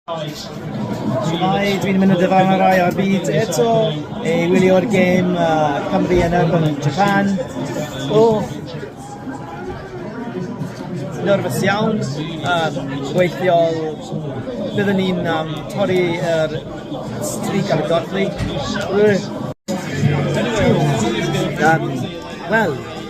Shwmae, dwi'n mynd yn dyfarn ar rai ar byd eto ei wylio'r gêm uh, Cymru yn erbyn Japan. O, nerfus iawn, uh, weithiol byddwn ni'n um, torri yr er strig ar y godli. Um, Wel,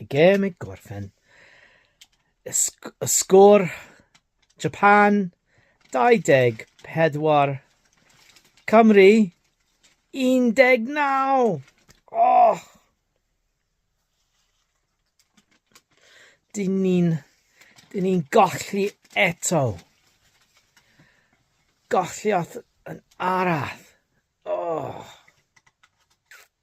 Y gêm i gorffen. Y, sg y sgôr Japan 24 Cymru 19. Oh! Dyn ni'n dyn ni'n golli eto. Golli off yn arall. Oh.